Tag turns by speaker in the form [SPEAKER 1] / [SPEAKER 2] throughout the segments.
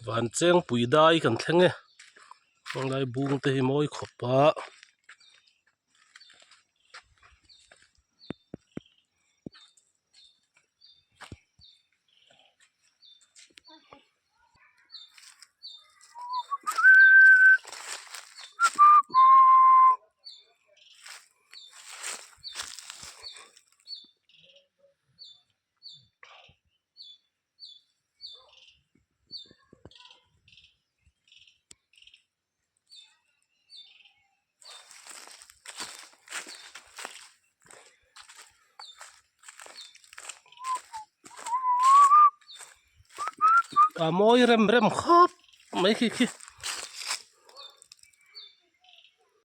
[SPEAKER 1] vancheng pui dai kan thleng e hmanlai bung te hi mawi khawp a. a mawi rem rem khawp mai khi khi.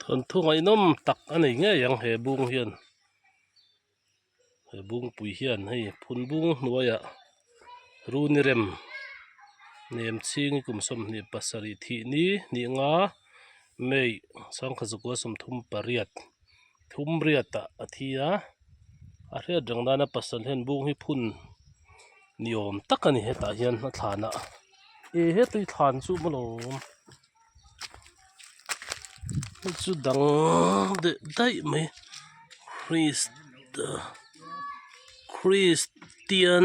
[SPEAKER 1] thawnthu ngaihnawm tak a nei ngei ang he bung hian he bungpui hian hei phun bung hnuaiah runi rem nem chhingi kum sawmhnih pasarih thih ni hnih nga may sangkhazakuasawm thum pariat. thumriat ah a thi a a hriat reng nana pasal hian bung hi phun ni awm tak a ni hetah hian a thlan ah e he tui thlan chu a maw lawm hei chu dang deuh daih mai kristian .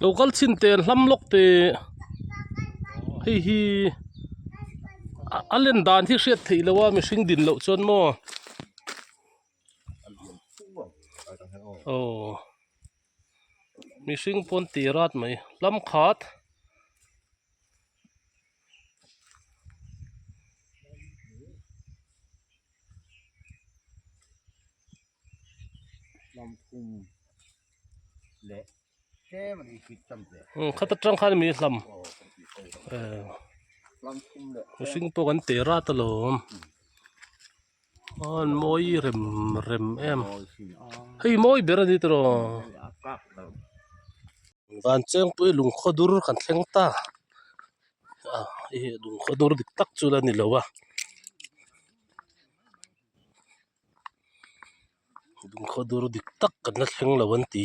[SPEAKER 1] lo kal chhin te an hlam lawk te hei hi a lan dan hi hriat theih loh a mihring din loh chuan maw aw. mihring pawn ti rat mai lam khat khata tang khan a mi hlam mihring pawh kan ti rat alawm. An mawi rem rem em hei mawi ber a ni tawh aw van chengpuii lung khaw dur kan thleng ta ah hei hi lung khaw dur dik tak chu a ni lo a lung khaw dur dik tak kan la thleng lo an ti.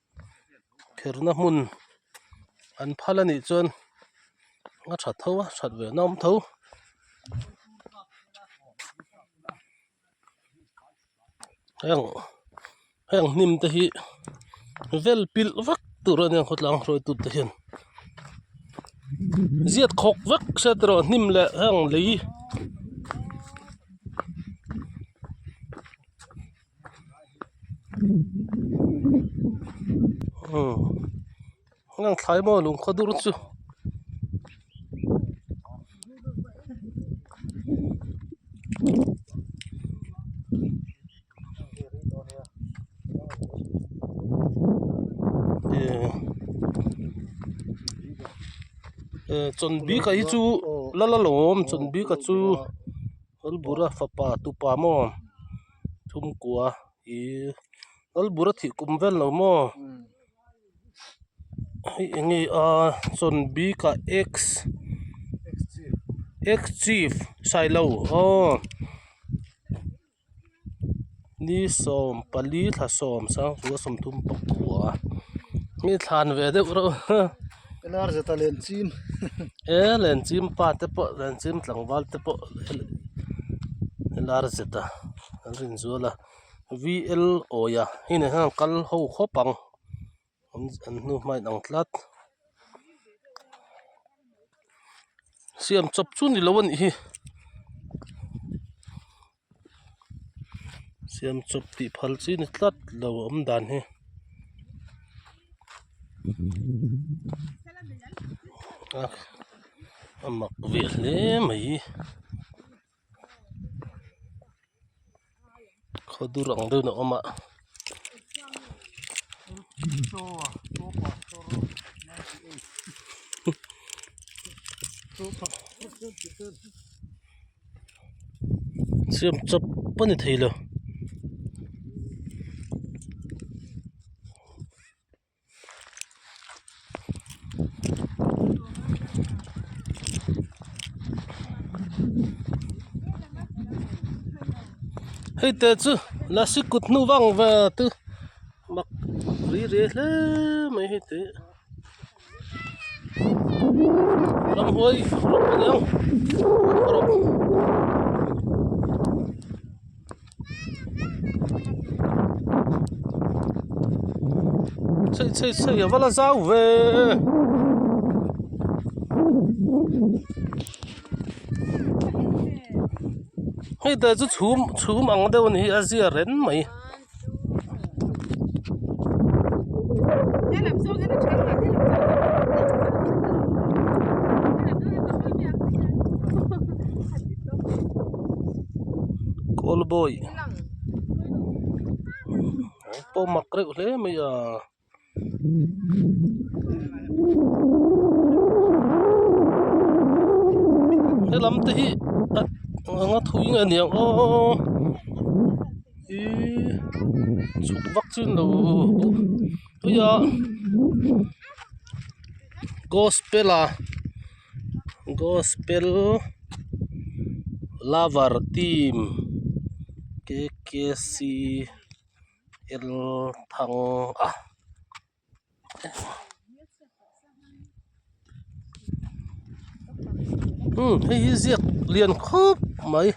[SPEAKER 1] kherna hmun an phal a nih chuan a that tho a that ve nawm tho. Heng heng hnim te hi vel pilh vak tur a nia khawtlang hruaitu te hian ziat khawk vek se a ti erawh hnim leh heng lei. aw heng ang thlai maw lung khaw dur chu e chawn bik ah hi chu la la lo awm chawn bik ah chu rawlbura fapa tupa maw. chhungkua ihh lalbur a thih kum vel lo maw hei eng nge aaa chawn bik ah x x chief hrai lo aww ni sawm pali thla sawm sangpua sawmthum pakua mi thlan ve deuh reuh. Inarjeta len chim ee len chim pa te pawh len chim tlangval te pawh Inarjeta an rawn inzual a VLAwia hei ah hian kal ho khawp ang an hnu hma in ang tlat siam chawp chu ni lo a nih hi. siam chawp tih phal chi ni tlat lo a awm dan hi a a mak ve hle mai khaw dur ang deuh in a awm a. siam chap a ni thei lo. hei te chu lasi kut hnu vang ve te mak rile hle mai hei te ram hawi rawh ka nia. sawi sawi sawi a va la zau ve hete chu chhum chhum ang deuh a ni hi a zia ren mai. Call boy an pawh mak reuh hle mai a. He lam te hi anga thu inge a niang aww ih chhuk vak chin lo gospel a. gospel lover team k k c el thang a hei hi ziak lian khawp mai.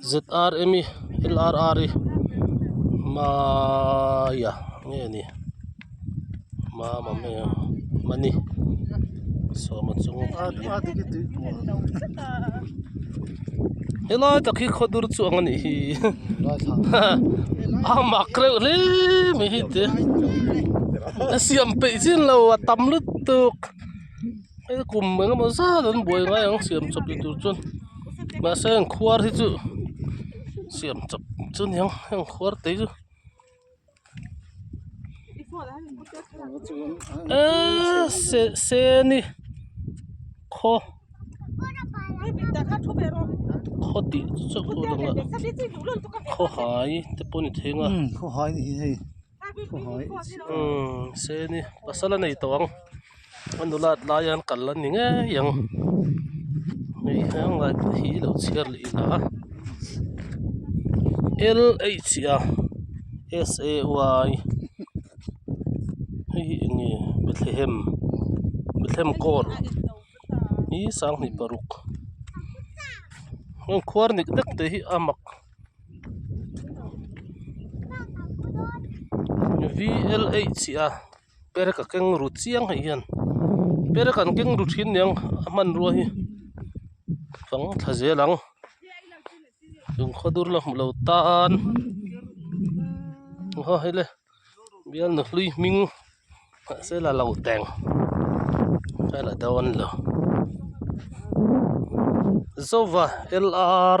[SPEAKER 1] zrm i lrr i maya nge ni mama nge mani sawma chu helai tak hi khaw dur chuang anih hi a mak reuh hle mai hi te a siam peih chin lo a tam lutuk. he kum eng emaw zat an buai ngai ang siam chawp ni tur chuan mahse heng khuar hi chu siam chawp chu ni ang heng khuar te chu eeii se se a ni khaw khaw tih chu a lang a khawhai te pawh a ni thing a. se ni pasal a nei tawh ang a nula tlai a an kal a ni ngei ang hei hian mic te hi lo chhiar leh ila a lha say hei hi eng nge bethlehem bethlehem kawl i sanghnih paruk khuar nek nek te hi a mak-- vlh a per ka keng ru chiang theih hian per a kan keng ru thin niang a hmanrua hi fang thla zel ang chung khaw dur la hmu lo tan oho hi le bial nahhlui hming mahse la lo teng ka la dawn lo zova lr .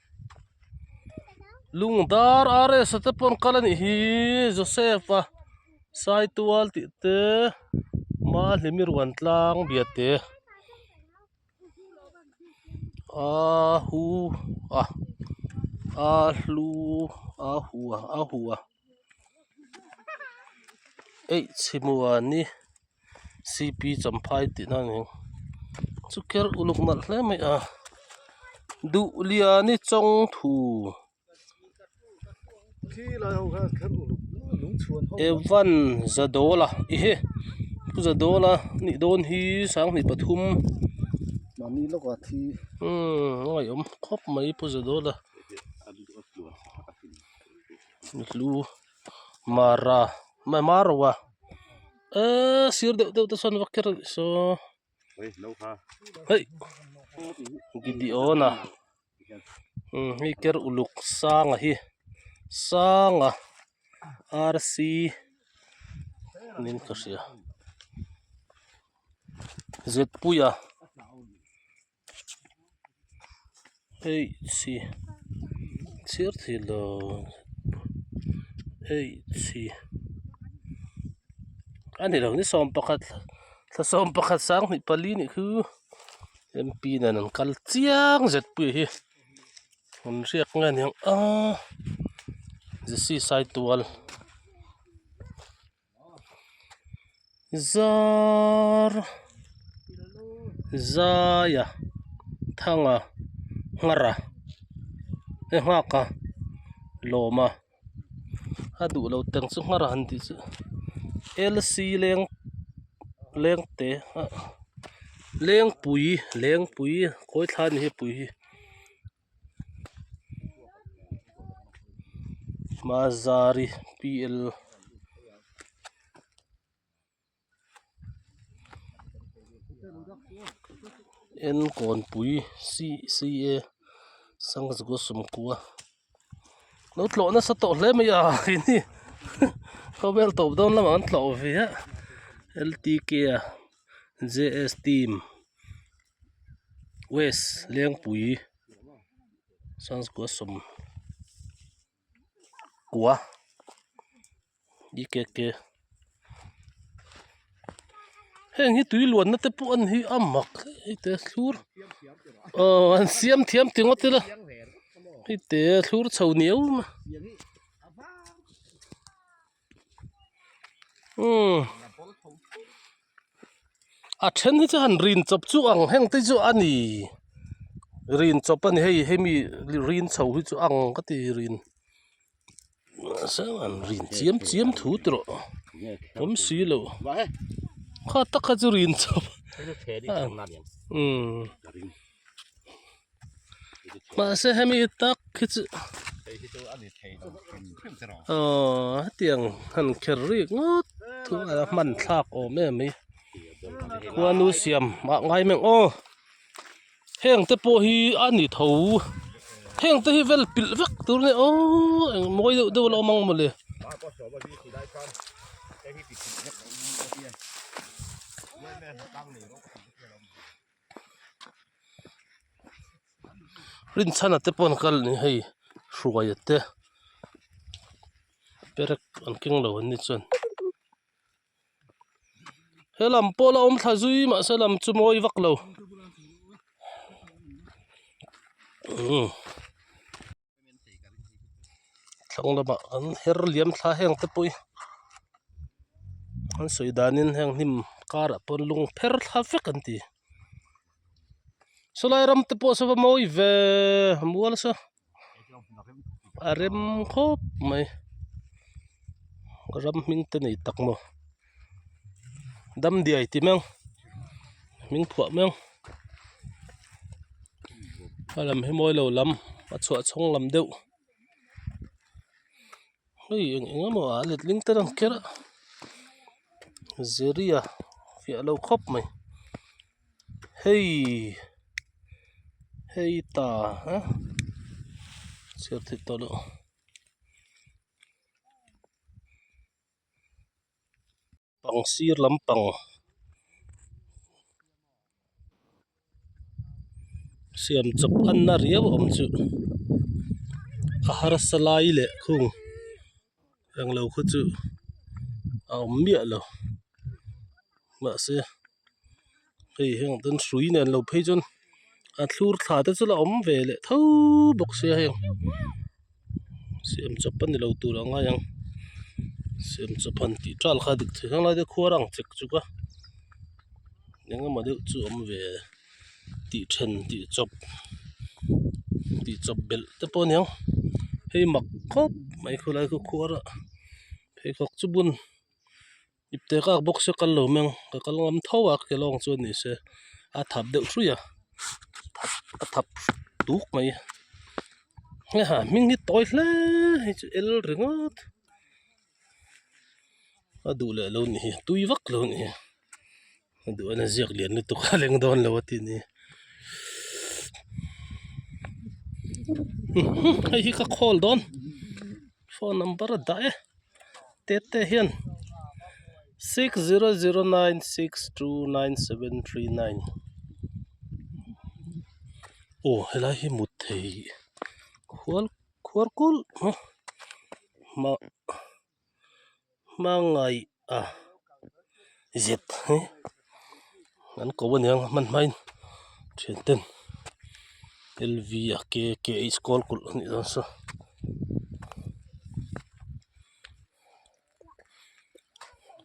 [SPEAKER 1] Lungdar RS-a te pawh an kal a nih hi Joseph a sai tual tih te Mahlimi Ruantlang Biate aa hu a aa hlu aa hua aa hua H hi mua ni. cp champhai tihna a ni chu kher uluk nalh hle mai a duh lian i chawng thu evan zadaula ehe pu zadaula a nih dawn hi sang hnih pathum a ngaihawm khawp mai pu zadaula a ni hlu. Mara mah Maro a eeii sir deuh deuh te chuan vak ker rih saw heih Gideon a imm hei ker uluk sanga hi sanga rc min ka hria Zpuia. eih chi chhiar theih lo eih chi a ni lo ni sawm pakhat thlasawm pakhat sanghnih pali anih khu M P nen an kal chiang zet pui hi hun hriak nge niang a zc sai tual. Zar zaia thanga nghara e nghaka lawma a duh lo teng chu nghara han tih chu lc leng lengte ah lengpui lengpui khawi thla a ni hei pui hi. mazari p l n kawnpui c c a sangazgo sawmkua lo tlawh nasa tawh hle mai a ih hi khawvel tawp dawn lam ang an tlawh viah l t k a j s team. west lengpui sawm kua i ke ke heng hi tui luatna te pawh a ni hi a mak hei te thlur aw an siam thiam teng ngawt ila hei te thlur chho ni aum a. a then hi chuan rin chawp chu ang heng te chu a ni rin chawp a ni hei hemi rin chho hi chu ang ka ti rin rin chiam chiam thu te rawh awm si lo kha taka chu rin chawp a ni. mahse hemi hi tak khi chu aww hetiang han kher rih ngawt thu a la hman thlak awm em hi khuanu siam ah ngai meng aw heng te pawh hi a ni tho heng te hi vel pilh vek tur a ni aw eng mawi deuh deuh a lo awm ang mawle rinchhan te pawh an kal a ni hei hruaia te perek an keng lo an ni chuan he lam pawl a awm thla zui mah se lam chu mawi vak lo. thlang lama kan her liam thla heng te pawh hi an sawi danin heng hnim karah pawh lung pher thla vek an ti saw lai ram te pawh saw va mawi ve a mual a saw a rem khawp mai ram hming te nei tak maw. dam diai ti meuh min phuah meuh a lam hi mawi lo lam a chhuah chhawng lam deuh hei eng eng emaw a let ling ter ang kiar a ziria fiah lo khawp mai hei hei ta aa chhiar thei tawh loh. bang sir lampang siam chawp an na riau awm chu a harsa lai leh khung englo khaw chu a awm miah lo mahse-- hei hian kan hrui nen lo phei chuan a thlur thla te chu la awm ve leh tho bawk sia hei siam chawp a ni lo tur ang a heng siam chawp han tih tial kha dik theih hmangaih te khuya a raang chek chuk a eng emaw deuh chu awm ve tih then tih chawp tih chawp belh te pawh a ni ang hei mak khawp mai khawlai khuh khuara pheikhawk chu bun-- Ipte ka ak bawk se kal lo meng ka kal ngam tho a ka kelawng chu ani se a thap deuh hrui a a thap tuk mai nge ha hming hi tawi hle hei chu el ringawt a duh leh lo ni hi a tui vak lo ni hi. Duhna ziak lian lutuk a leng dawn lo a ti ni hei hi ka call dawn phone number a dah e Tete hian six zero zero nine six two nine seven three nine aw helai hi mut thei khual khual kulh a mah. hmangaih a zet hi an ko a nia hman hmain thian ten L_V a K K a iskawl kulh anih loh se.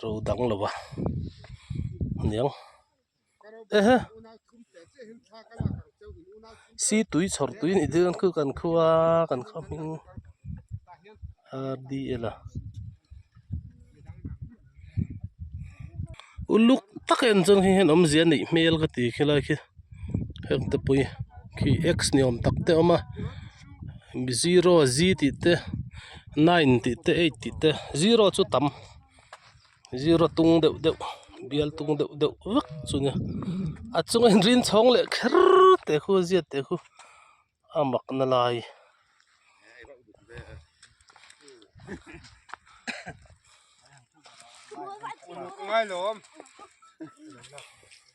[SPEAKER 1] ro dang lo va niang ehe si tui chhawr tui anih duh ang khu kan kho a kan kho hming hdl a uluk tak en chuan hei hian awmzia neih hmel ka ti khelai khi hekte pawh hi khi x ni awm tak te a awm a. zero zee tih te nine tih te eight tih te zero chu tam zero tung deuh deuh bial tung deuh deuh vak chu nia a chunga inrin chhawng leh kher te khu ziah te khu a mak na lai --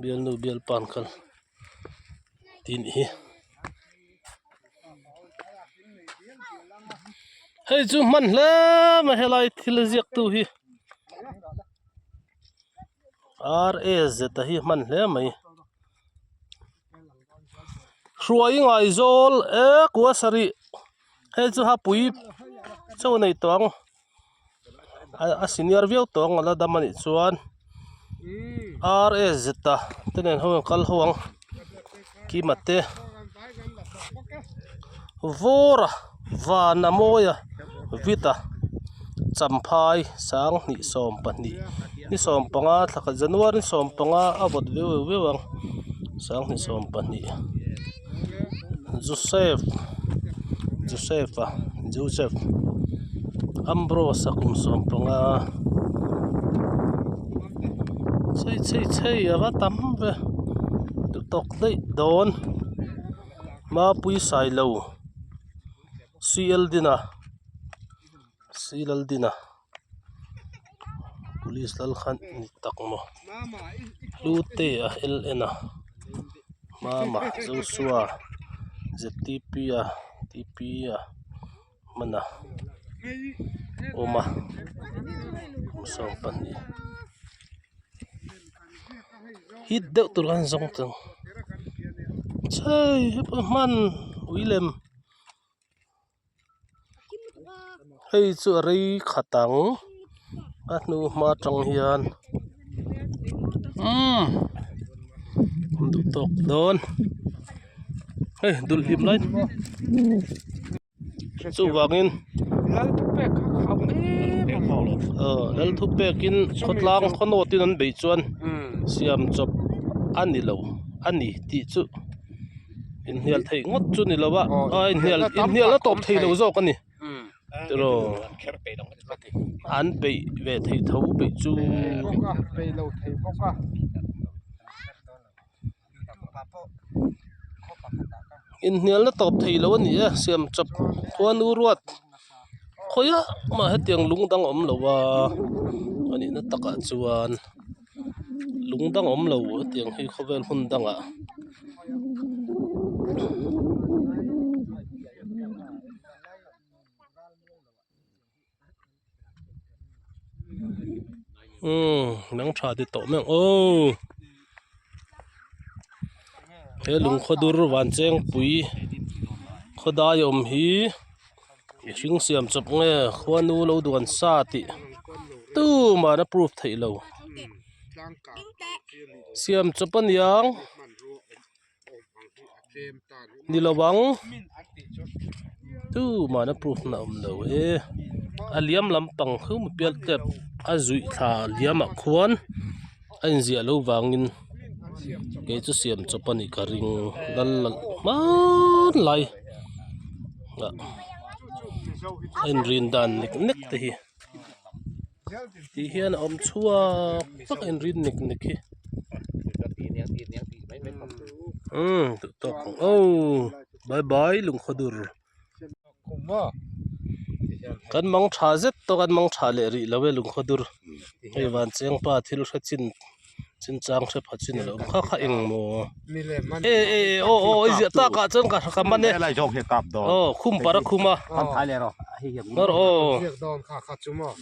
[SPEAKER 1] bialnu bialpan khan tih ni hi hei chu hman hle ma helai thil ziak tu hi RAZ a hi hman hle mai hruai i ngaizawl eee kuasa rih hei chu hapui chho a nei tawh ang. a senior viau tawh ang ala dam anih chuan rsg ta te nen ho kal ho ang kima te vawra vana mawia vita champhai sang hnih sawm pahnih ni sawm panga thlaka january ni sawm panga a vawt viau viau viau ang sang hnih sawm pahnih. Josef Josef a Josef Ambrose a kum sawm panga chei chei chei ava tam ve ti tawk daih dawn mapui sailo silldin a silldin a. police lal khan a ni tak maw hlute a hel en a mama joshua ztp a tp a hman a awm a kum sawn pahnih hit deuh tur an zawng tawh chhai hepa hman ui lem. hei chu a rei khat ang a hnu hma tang hian umm kan duh tawk dawn hei dul hlim lai chuvang in aw lalthu pek in khawtlang khaw nawt in an beih chuan siam chawp a ni lo a ni tih chu-- inhnial theih ngawt chu ni lo a a inhnial inhnial a tawp theih loh zawk a ni emaw an peih ve thei tho peih chu inhnial na tawp thei loh a ni a siam chap khuanu ruat khawih ah mah hetiang lungdang awm lo a a nihna takah chuan-- lung dang awm lo hetiang hi khawvel hun dang ah umm hnam tha te tawh meuh ooh he lung khaw dur vancheng pui khaw dai awm hi-- mihring siam chawp nge khuanu lo duan sa tih tumana proof theih lo siam chawp a niang ni lo ang tumana proof na awm lo e a liam lampang chu pian tep a zuih thla liam ah khuan-- a inziah loh vangin kei chu siam chawp a nih ka ring lal la hmaan lai ah a inrin dan nek nek te hi tih hian a awm chhuak tak a inrin nek nek hi duh tawk ang au bye bye lungkhodur. kan mang tha zet tawh kan mang tha leh rih love lungkhaw dur hei vânchêngpa thil hre chin chin châng hre pha chin alo awm kha kha engmaw e e e aw aw i ziah takah chuan ka ka man e aw khum parh a khum a nawr aw.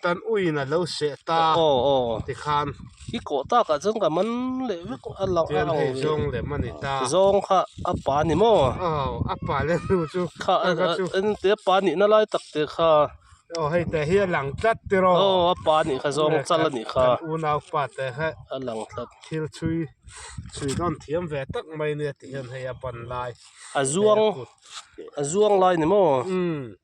[SPEAKER 1] Kan uiin a lo seh ta tikhan i kawh tak ah chuan ka man leh vek a lo chuan hei zawng lem a ni ta zawng kha a pa ni maw aw a pa leh hnu chu kha engtin a pa nihna lai tak te kha aw hei te hi a lang tlat tiraw aw a pa nih kha zawng chal a ni kha kan unau pa te hi a lang tlat thil chhui chhui dawn thiam ve tak mai nia tihian hei a pan lai a zuang a zuang lai ni maw umm.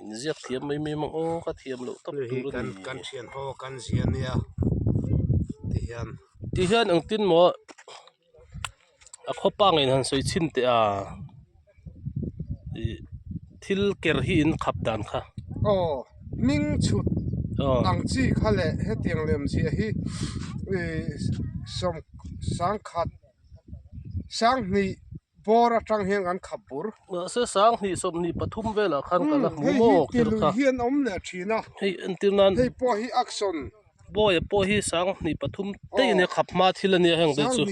[SPEAKER 1] inziak thiam mai mai amaw ka thiam loh tak tur a ni hei hi kan kan thian ho kan zia nia tihian tihian ang tin maw a khawpa ngaih han sawi chhin teh a ih thil ker hi in khap dan kha aw hming chhut ang chi kha leh hetiang lem ziah hi ih sawm sangkhat sanghnih. bawr atang hian kan khap bur mahse sang hnih sawm hnih pathum velah khan kan la hmuh maw tir kha hei hi ti lui hian a awm leh thin a hei entir nan hei pawh hi action bawi ah pawh hi sang hnih pathum te in a khap hma thil ania heng te chu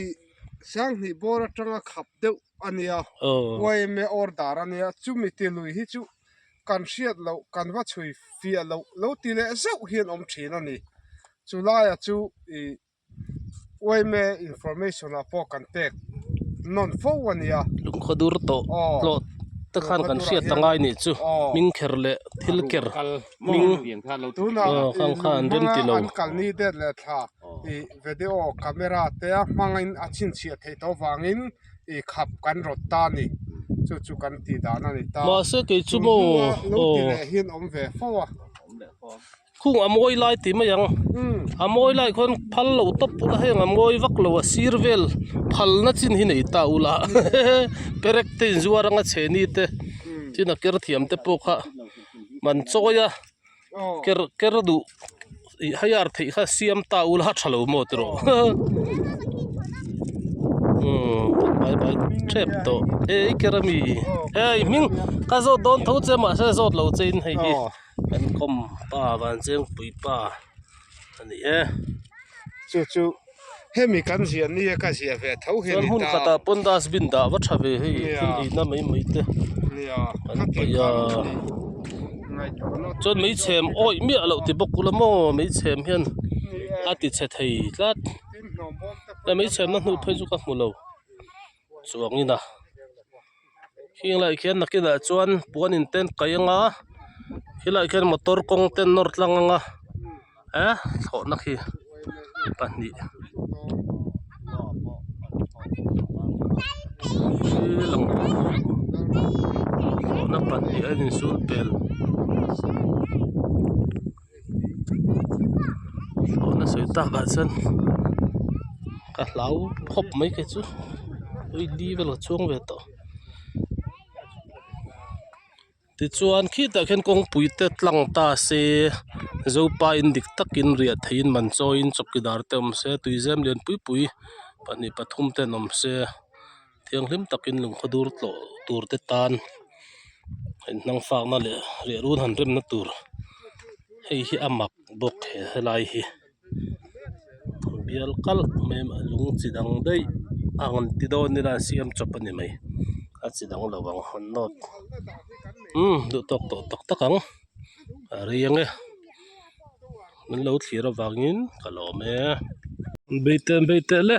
[SPEAKER 1] sang hnih bawr atang a khap deuh ania yam e order ania chumi ti lui hi chu kan hriat loh kan va chhui fiah loh lo ti leh zeuh hian awm thin a ni chu lai ah chu ih-- uaime information ah pawh kan pek nawn fo a nia lungkhaw dur tawh hlawh te khan kan hriat ta ngai nih chu hming kher leh thil ker hming khan kha an remti lo an kal ni det leh thla ih video camera te a hmangin a chhinchhiah theih tawh avangin ih khap kan rawt ta a ni chu chu kan tih dan a ni ta mahse keichu maw aw lung tih leh hi an awm ve fo a awm leh fo a. khung a mawi lai tih mai ang a mawi lai khawn phal loh tawp pawh a heng a mawi vak lo a sir vel phal na chin hi nei ta ula perek te in zuar anga chhehni te chin a ker thiam te pawh kha man chawi a ker ker duh ih haiar theih kha siam ta ula a tha lo maw ti rawh bai bai tep tawh ei ker ami ei hming ka zawt dawn tho che mahse zawt lo che in hei hi. Kan khawm pa Vanchengpui pa a ni e. Chu chu hemi kan ziah ni e ka ziah ve tho hi a ni ta. Chuan hun khatah pawn dustbin dah va tha ve hei thil inna mai mai te kan paih a. Chuan mei chhem awih miah loh ti bawk kula maw mei chhem hian a tichhe thei tlat. Hei mei chhemna hnu phei chu ka hmu lo. chuangin a heng lai khian nakinah chuan puan in te an kaih anga khilai khian motor kawng te an nawr tlang anga eh thlawhna khi pahnih hril ang thlawhna pahnih a in sulpel. thlawhna sawi tak ah chuan ka hlau khawp mai ka chu oili vel ka chuang ve tawh tichuan khitah khian kawngpui te tlang ta se zopa in dik tak in riah theih in man chawi in chawkidar te awm se tuizem lian pui pui pahnih pathum ten awm se. thianghlim takin lungkhaw dur tlawh tur te tan in hmang sakna leh lehrun han remna tur hei hi a mak bawk he helai hi bial kal mai a lung chi dang daih a han ti dawn ila an siam chawp a ni mai a chi dang lo ang haw nawt umm duh tawk tawh tak tak ang a rei ang e min lo thlir avangin ka lawm e bei teh an bei teh le.